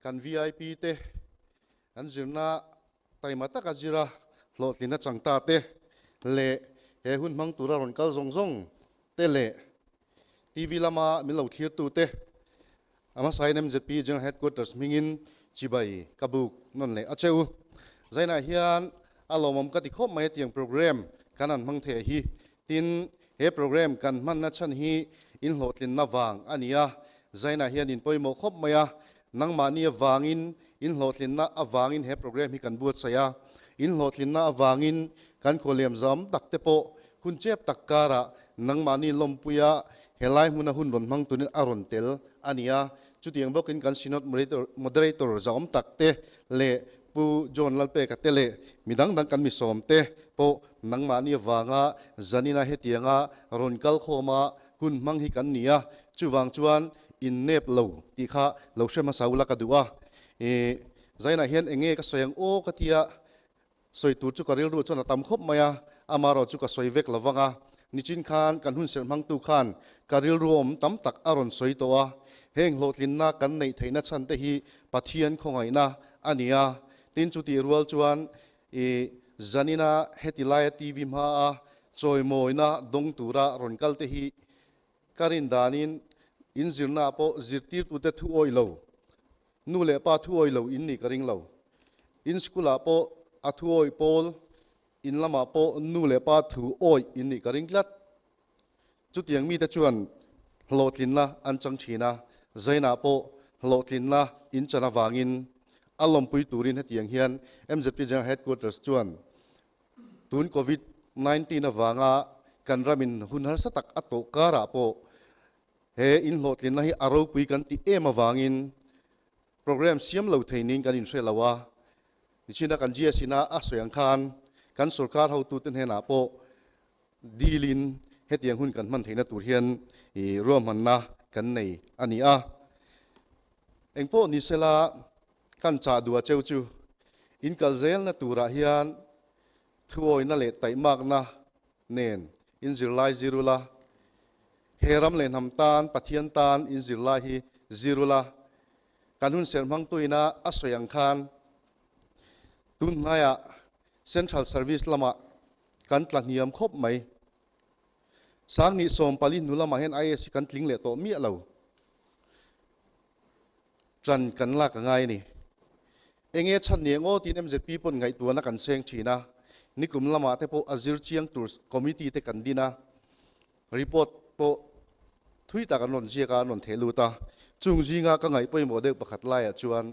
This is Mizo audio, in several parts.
Kan VIP te, an zirna taima taka zira hlawhtlin achang ta te leh he hun hmang tura rawn kal zawng zawng te leh TV lama min lo thlir tu te hmasain MZP General Headquarters hmingin chibai ka buk nawn leh a che u. Zainah hian a lawmawm ka ti khawp mai atiang program kan an hmang theih hi Tin, he program kan hmanna chhan hi in hlawhtlinna vang a ni a, Zainah hian in pawimawh khawp mai a, Nangmahni avangin in hlawhtlinna avangin he program hi kan buatsaih a, in hlawhtlinna avangin kan khawlem zawm tak te pawh hun chep tak karah nangmahni lawmpuia he lai hmuna hun rawn hmang turin a rawn tel a ni a, chutiang bawkin kan Synod Moderator zawm tak te leh Pu John Lalpek a te leh mi dang dang kan mi sawm te pawh nangmahni avanga zanina hetianga rawn kal khawm a, hun hmang hi kan ni a, chuvang chuan innep lo tih kha lo hre hmasa ula ka duh a, ih zainah hian eng nge ka sawi ang aw ka tia sawi tur chu ka rilru chuan a tam khawp mai a, amarawh chu ka sawi vek lo vang a, nichin khan kan hun serh hmangtu khan ka rilruawm tam tak a rawn sawi tawh a, heng hlawhtlinna kan neih theihna chhan te hi Pathian khawngaihna a ni a. Tin, chutih rual chuan i Janina heti laia TV hmaa chawimawina dawng tura rawn kalte hi ka rin danin in zirnaah pawh zirtirtute thu awih lo, nu leh pa thu awih lo in nih ka ring lo. In school ah pawh a thu awih pawl, in lamah pawh nu leh pa thu awih in nih ka ring tlat. Chutiang mite chuan hlawhtlinna an chang ṭhin a, Zainah pawh hlawhtlinna in chan avangin a lawmpui turin hetiang hian MZP General Headquarters chuan tun Covid nineteen avanga kan ram in hun harsa tak a tawh karah pawh he inhlawhtlinna hi a ropui kan tih em avangin programme siam lo theinin kan inhreh lo a, nichina kan GS ina a sawi ang khan kan sorkar hotute hnenah pawh Dîlin hetiang hun kan hman theihna tur hian i ruahmanna kan nei a ni a. Engpawh ni sela kan chah duh a cheu chu inkal zêlna turah hian thuawina leh taihmakna nen in zirlai zirul a. He ram leh hnam tân Pathian tân in zirlai hi zirul a. Kan hun serh hmangtuina a sawi ang khân tun hnaiah Central Service lamah kan tla hniam khawp mai. Sangni sawm pali hnu lamah hian IS hi kan tling leh tawh miah lo. Ṭan kan lak a ngai a ni. Eng e chhan ni ang aw tiin MZP pawn ngaihtuahna kan seng ṭhin a, nikum lamah te pawh a zir chiang tur committee te kan din a, report pawh thui tak an rawn ziak a, an rawn theh lut a. Chung zingah ka ngaih pawimawh deuh pakhat laiah chuan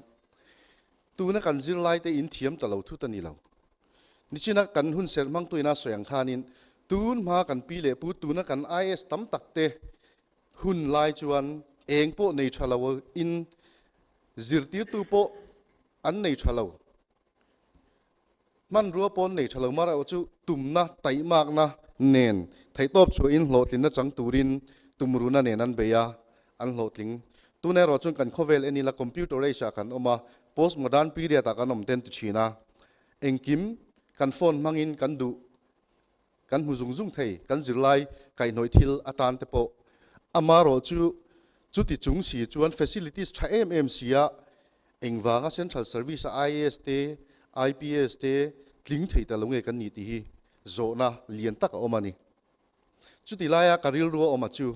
Tuna kan zirlaite in thiam ta lo thu ta ni lo. Nichina kan hun serh hmangtuina sawi ang khanin tun hma kan pi leh pu tuna kan IS tam takte hun lai chuan eng pawh nei tha lo in zirtirtu pawh an nei tha lo. Hmanrua pawn nei tha lo mar erawh chu tumna taihmakna nen theihtawp chhuahin hlawhtlinna chang turin tumruna nen an bei a, an hlawhtling. Tun erawh chuan kan khawvel en ila computer age ah kan awm a, post modern period ah kan awm te an ti thin a. Engkim kan phone hmangin kan duh Kan hmu zung zung thei, kan zirlai kaihnawih thil atan te pawh. Amarawh chu, chuti chung si chuan facilities tha em em si a, engvanga central service a IAS te, IPS te tling thei ta lo nge kan nih tih hi zawhna lian tak a awm a ni. Chuti laia ka rilru a awm a chu,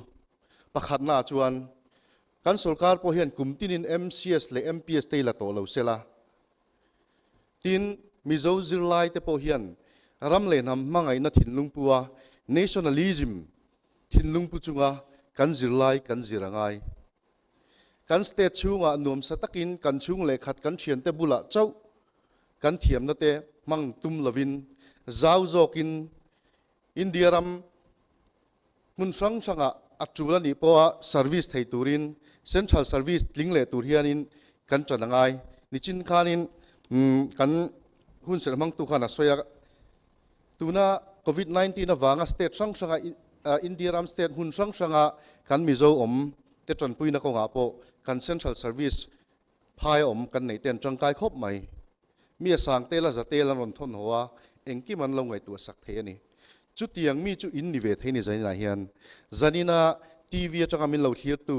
pakhatna ah chuan kan sorkar pawh hian kum tinin MCS leh MPS te i la tawh lo sela, Tin, Mizo zirlai te pawh hian ram leh hnam hmangaihna thinlungpua, nationalism, thinlungpu chunga kan zirlai kan zir a ngai. Kan state chhungah nuamsa takin kan chhung leh khat kan thiante bulah chauh kan thiamna te hmang tum lovin zau zawkin India ram Hmun hrang hrangah a tul a nih pawha service thei turin central service tling leh tur hianin kan tan a ngai. Nichin khanin kan hun serh hmangtu khan a sawi a, tuna Covid nineteen avanga state hrang hranga India ram state hmun hrang hranga kan Mizo awm te tanpuina kawngah pawh kan central service Phai awm kan neih ten tangkai khawp mai. Mi a sang tel a za tel an rawn thawn haw a, engkim an lo ngaihtuah sak thei a ni. Chutiang mi chu in ni ve thei ni zanin ah hian zanin a TV atanga min lo thlirtu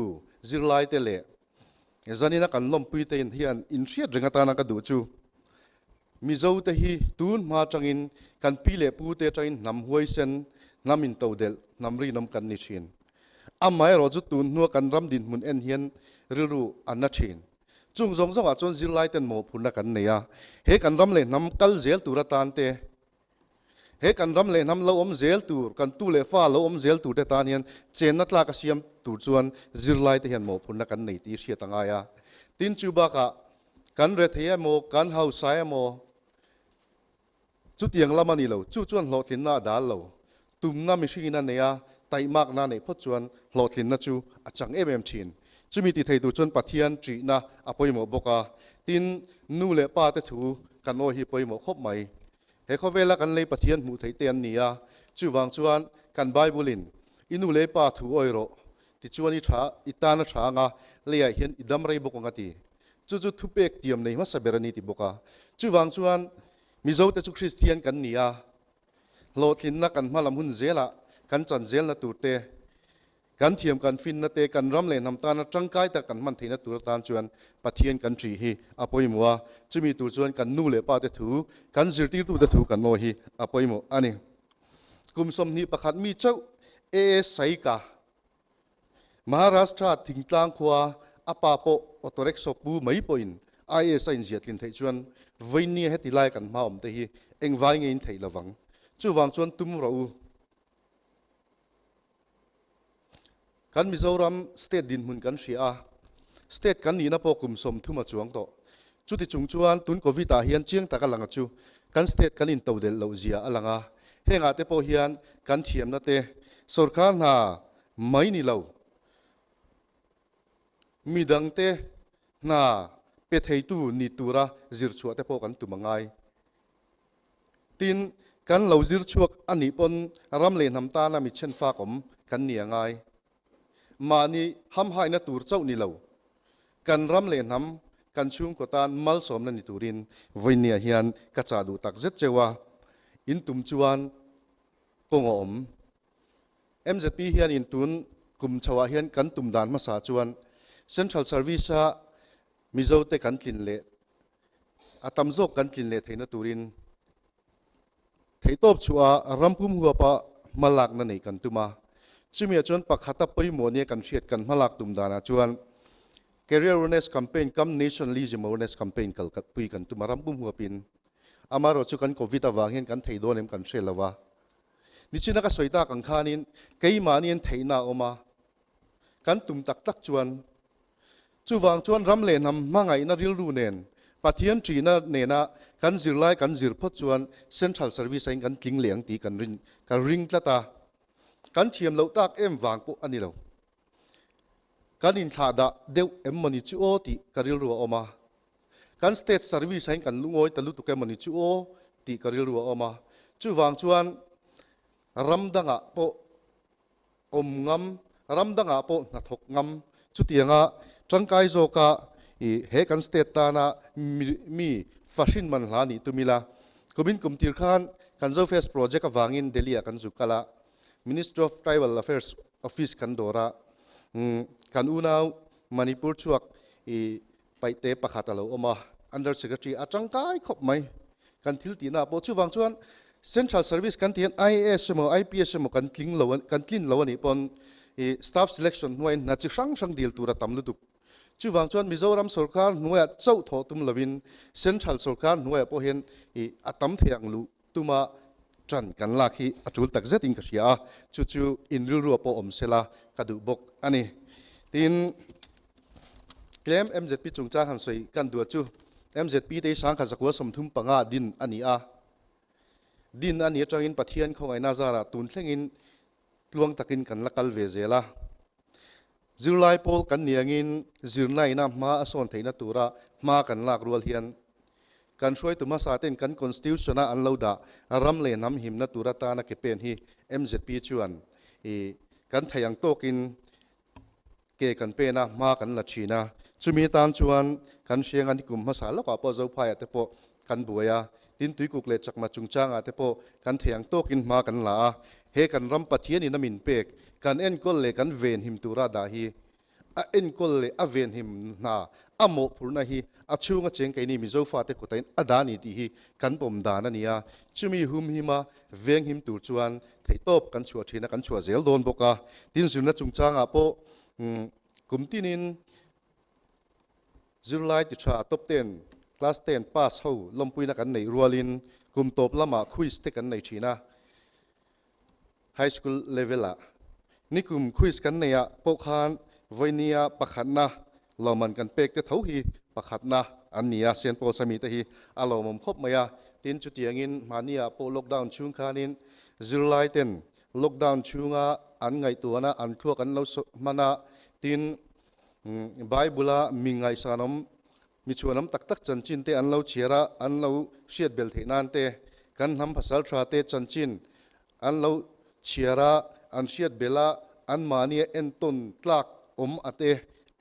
zirlai te leh zanin a kan lawmpui te in hian in hriat ringatan an ka duh chu Mizo te hi tunhma atangin kan pi leh pu te atangin hnam huaisen, hnam into delh, hnam rinawm kan ni thin. Amaherawh chu tunhnua kan ram dinhmun en hian rilru a na thin. Chung zawng zawngah chuan zirlai ten mawhphurhna kan nei a, he kan ram leh hnam kal zel tur atante He kan ram leh hnam lo awm zel tur, kan tu leh fa lo awm zel tur te tan hian chenna tlak a siam tur chuan zirlaite hian mawhphurhna kan nei tih hriat a ngai a. Tin, chu bakah kan rethei emaw, kan hausa emaw chutiang lam a ni lo, chu chuan hlawhtlinna a dal lo. Tumna mihringin a nei a, taihmakna a neih phawt chuan hlawhtlinna chu a chang em em thin. Chumi tih thei tur chuan Pathian ṭihna a pawimawh bawk a, tin, nu leh pate thu kan awi hi pawimawh khawp mai. He khawvela kan lei Pathian hmuh theih te an ni a, chuvang chuan kan Bible-in, I nu leh i pa thu awi rawh, tichuan i ṭha, i tana ṭha anga leiah hian i dam rei bawk ang a ti. Chu chu thupek tiam nei hmasa ber a ni ti bawk a. Chuvang chuan, Mizote chu Kristian kan ni a, Hlawhtlinna kan hmalam hun zelah kan chanzelna turte, kan thiam kan finnate, kan ram leh hnam tana tangkai tak kan hman theihna tur atan chuan Pathian kan ṭih hi a pawimawh a, chumi tur chuan kan nu leh pate thu, kan zirtirtute thu kan ngawi hi a pawimawh a ni. Kum sawmhnih pakhat mi chauh, AS Saika, Maharashtra thingtlang khua a pa pawh auto rickshaw pu mai pawhin IS a inziahtlin theih chuan vawiin nia heti laia kan hma awmte hi engvai ngeiin theih lo vang. Chuvang chuan tum rawh u. Kan Mizoram state dinhmun kan hria a, state kan nihna pawh kum sawm thuma chuang tawh. Chuti chung chuan tun Covid ah hian chiang tak a lang a chu kan state kan in to delh loh zia a lang a, heng ah te pawh hian kan thiamna te sorkar hna mai ni lo mi dang te hna pe thei tu ni tura zir chhuah te pawh kan tum a ngai. Tin, kan lo zir chhuak a nih pawn ram leh hnam tana mi chhen fakawm kan ni a ngai. mahni hamhaina tur chauh ni lo, kan ram leh hnam, kan chhungkaw tan malsawmna ni turin vawinia hian ka chah duh tak zet cheu a, in tum chuan kawng a awm. Mzp hian in tun kum chho ah hian kan tum dan hmasa chuan Central Service a Mizote kan tlin leh a tam zawk kan tlin leh theihna turin Theihtawp chhuaha rampum huapa hma lakna nei kan tum a, chumi ah chuan pakhata pawimawh nia kan hriat kan hma lak tum danah chuan Career Awareness Campaign kam Nationalism Awareness Campaign kal pui kan tum a, rampum huapin. Amaherawh chu kan Covid avang hian kan thei dawn em kan hre lo a. Nichina ka sawi tak ang khanin keimahni hian theihna a awm a, kan tum tak tak chuan. Chuvang chuan ram leh hnam hmangaihna rilru nen Pathian ṭihna nena kan zir lai kan zir phawt chuan Central Service ain kan tling leh ang tih kan rin kan ring tlat a. Kan thiam loh tak em vang pawh a ni lo. Kan inthlah dah deuh emmawni chu aw tih ka rilru a awm a. Kan State Service ain kan lungawi ta lutuk emmawni chu aw tih ka rilru a awm a. Chuvang chuan ram dangah pawh awm ngam, ram dangah pawh hna thawk ngam. Chutianga tangkai zawka i he kan state tana mi fahrin man hla nih tum ila kum in kum tir khan kan Zofest project avangin Delhi ah kan zu kal a, Ministry of Tribal Affairs office kan dawr a, kan unau Manipur chhuak i Paihte pakhat a lo awm a, Under Secretary a tangkai khawp mai. Kan thil tihna ah pawh chuvang chuan Central Service kan tih hian IAS emaw IPS emaw kan tling lo kan tlin lo a nih pawn i Staff Selection hnuaiin hna chi hrang hrang dil tur a tam lutuk. Chuvang chuan Mizoram sorkar hnuaiah chauh thawh tum lovin Central sorkar hnuaiah pawh hian i a tam thei ang luh. Tuma ṭan kan lak hi a ṭul tak zetin ka hria a, chu chu in rilruah pawh awm sela ka duh bawk a ni. Tin, tlem MZP chungchang han sawi kan duh chu MZP te hi Sangkhat zakua sawmthum panga din a ni a. Din a ni aṭangin Pathian khawngaihna zarah tun thlengin tluang takin kan la kal ve zel a. Zirlai pawl kan ni angin zirnaihna hma a sawn theihna tura hma kan lak rual hian kan hruaitu hmasa ten kan Constitution-a an lo dah ram leh hnam himna tur atana ke pen hi mzp chuan i kan theih ang tawkin Ke kan pen a, hma kan la thin a. Chumi atan chuan kan hriang a, nikum hmasa lawkah pawh Zophaiah te pawh kan buai a, tin tuikuk leh chakma chungchangah te pawh kan theiang tawkin hma kan la a. He kan ram Pathian in a min pek, kan enkawl leh kan venhim tura dah hi? A enkawl leh a venhim hna a mawhphurhna hi a chhunga cheng keini mi Zophate kawtain a dah a ni tih hi kan pawm dan a ni a. Chumi humhima Veng him tur chuan theihtawp kan chhuah thin a, kan chhuah zel dawn bawk a. Tin zirna chungchangah pawh kum tinin zirlai ti tha top ten, class ten pass ho lawmpuina kan neih rualin kum tawp lama quiz te kan nei thin a, high school level ah. Nikum quiz kan neih ah pawh khan vawina pakhatna Lohman kan pek te tho hi pakhatna an ni a, Saint Paul Sami te hi a lohmawm khawp mai a, tin chutiangin mahniah pawh lockdown chhung khanin zirlaiten lockdown chhunga an ngaihtuahna an thluak an lo sawi hman a, tin Bible-a mi ngaihsanawm, mi chhuanawm tak tak chanchin te an lo chhiar a, an lo hriat bel theih nan te, kan hnam phasaltha te chanchin an lo chhiar a, an hriat bel a, anmahnia entawn tlak awm a te,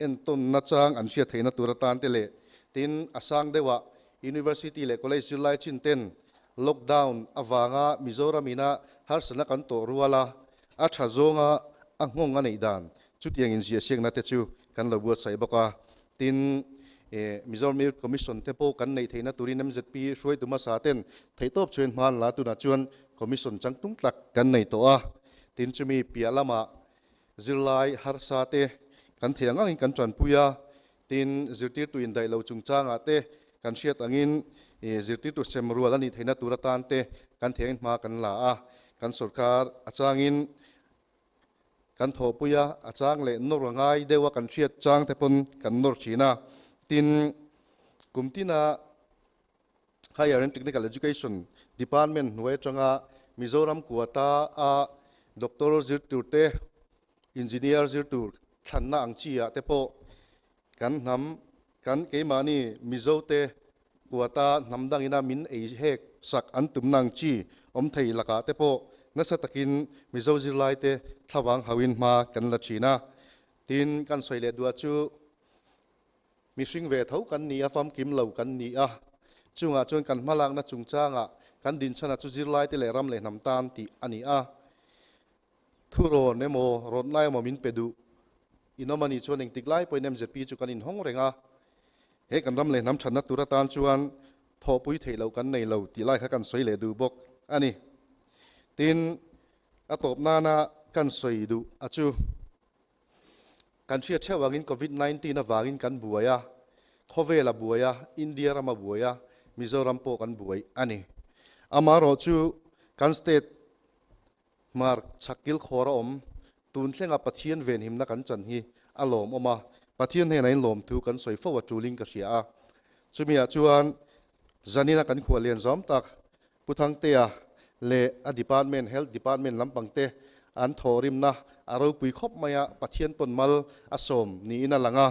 entawn nachang an hriat theihna tur atan te leh tin a sang deuhah University leh College zirlai chin ten lockdown avanga Mizoram ina harsatna kan tawh rual a, a tha zawnga a nghawng a neih dan chutiangin ziahsiakna te chu Kan lo buatsaih bawk a, tin, Mizoram Earth Commission te pawh kan neih theihna turin MZP Hruai Duma Sa ten theihtawp chuan hmaan la tunah chuan Commission chang tlung tlak kan nei tawh a, tin, chumi piah lamah zirlai harsa te kan theih ang angin kan tanpui a, tin, zirtirtu indaih lo chungchangah te kan hriat angin zirtirtu sem rual a nih theihna tur atan te kan theih angin hma kan la a, kan sorkar a changin Kan thawhpui a, a chang leh nawr a ngai deuh a, kan hriat changte pawn kan nawr thin a. Tin, kum tina Higher and Technical Education Department hnuai atanga Mizoram kuata a Doctor zir tur te, Engineer zir tur thlanna ang chi ah te pawh Kan hnam, kan keimahni Mizote kuata hnam dangina min ei hek sak an tumna ang chi awm thei lakah te pawh nasa takin Mizo zirlaite thlavang hauin hma kan la thin a. Tin, kan sawi leh duh chu mihring ve tho kan ni a, famkim lo kan ni a. Chungah chuan kan hmalakna chungchangah kan dinchhana chu zirlaite leh ram leh hnam tan tih a ni a. Thurawn emaw rawntlai emaw min pe duh. In awm a nih chuan engtik lai pawhin MZP chu kan inhawng reng a. He kan ram leh hnam thatna tur atan chuan thawhpui theih loh kan nei lo tih lai kha kan sawi leh duh bawk a ni. Tin, a tawp nana kan sawi duh a chu kan hria theuh angin Covid nineteen avangin kan buai a, khawvel a buai a, India ram a buai a, Mizoram pawh kan buai a ni. Amaherawhchu kan state Mark, Chak kilkhawr a awm. Tun thlenga Pathian venhimna kan chan hi a lawm awm a, Pathian hnena in lawm thu kan sawi fo a ṭulin ka hria a. Chumi ah chuan Janine-a kan khuah lian zawm tak Pu Thangtea leh a department, health department lampang te an thawhrimna a ropui khawp mai a, Pathian pawn mal a sawm niin a lang a.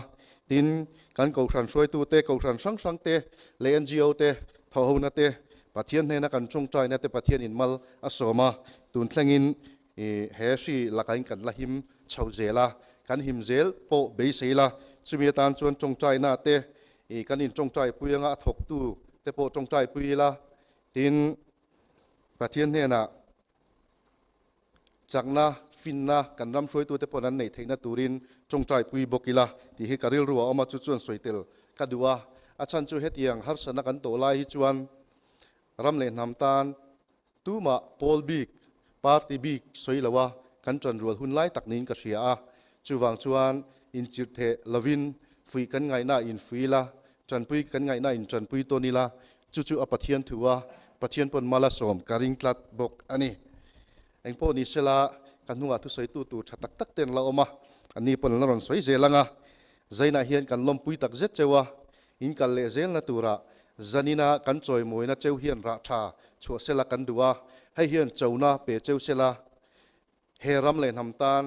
Tin, kan Kohhran hruaitu te, Kohhran hrang hrang te leh NGO te, thawhhona te Pathian hnena kan chhung ṭaih na te Pathian in mal a sawm a, tun thlengin i he hri laka in kan la him chho zel a, kan him zel pawh beisei la, chumi atan chuan chhung ṭaih na te i kan in chhung ṭaih pui anga a thawk tu te pawh chhung ṭaih pui ila, tin Pathian hnenah Chakna, finna, kan ram hruaitute pawh an neih theihna turin tawngtai pui bawk ila tih hi ka rilru a awm a, chu chuan sawi tel ka duh a. A chhan chu hetiang, harsatna kan tawh lai hi chuan ram leh hnam tan tumah pawl bik, party bik sawi lo a kan tan rual hun lai tak niin ka hria a, chuvang chuan inchirh theh lovin fuih kan ngaihnaah infui ila Tanpui kan ngaihna in tanpui tawn ila, chu chu a Pathian thu a, Pathian paw'n mal a sawm, ka ring tlat bawk a ni. Eng pawh ni sela, ka hnungah thusawitu tur tha tak tak te an la awm a, an ni paw'n an la rawn sawi zel ang a. Zainah hian kan lawmpui tak zet cheu a, in kal leh zelna turah Zanina kan chawimawina cheu hian rah tha chhuah sela kan duh a, hei hian chona pe cheu sela He ram leh hnam tan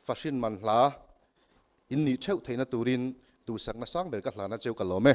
fahrin man hla in nih theuh theihna turin duhsakna sang ber ka hlan a cheu ka lawm e.